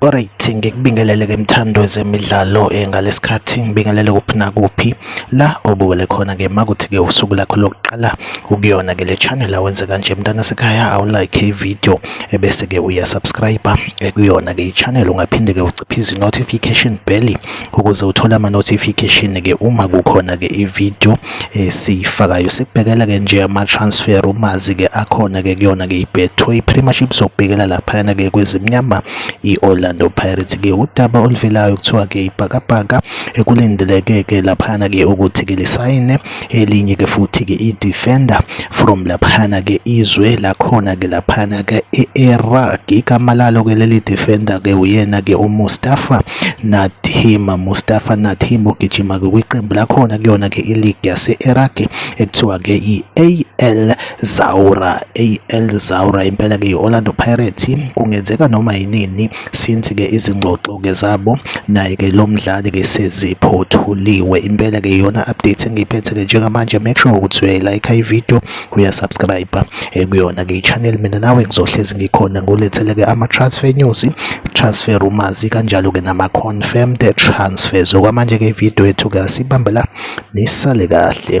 Alright ngikubingelele ke mthando zemidlalo eh, ngalesikhathi ngibingelele kuphi nakuphi la obuwele khona ke makuthi ke usuku lakho lokuqala ukuyona ke le channel awenze kanje mntana sekhaya awu like i video ebese eh, ke uya subscribe eh, kuyona ke i channel ungaphinde ke uciphize notification bell ukuze uthole ama notification ke uma kukhona ke i video esiyifakayo eh, sikubhekela ke nje ama-transfer umazi ke akhona ke kuyona ke i-betway premiership zokubhekela laphayana ke kwezimnyama i-orlando pirates ke udaba oluvelayo kuthiwa ke ibhakabhaka ekulindeleke ke laphayana ke ukuthi ke lisayine elinye ke futhi ke i-defender from laphayana ke izwe lakhona ke laphayana ke e-iraq igama lalo ke leli defender ke uyena ke umustafa Natim Mustafa Natim ogijima-ke kwiqembu lakhona kuyona-ke iligi yase-Iraq ekuthiwa-ke i-AL Zaura AL Zaura impela-ke i-Orlando Pirates kungenzeka noma yinini since-ke izingxoxo-ke zabo naye-ke lo mdlali-ke seziphothuliwe impela-ke iyona update engiyiphethe-ke njengamanje make sure ukuthi uyayilayikha ividiyo uya subscribe eh, kuyona ke channel mina nawe ngizohlezi ngikhona ngolethele ke ama transfer news transfer rumors kanjalo ke nama confirmed transfers okwamanje ke video yethu ke sibambela nisale kahle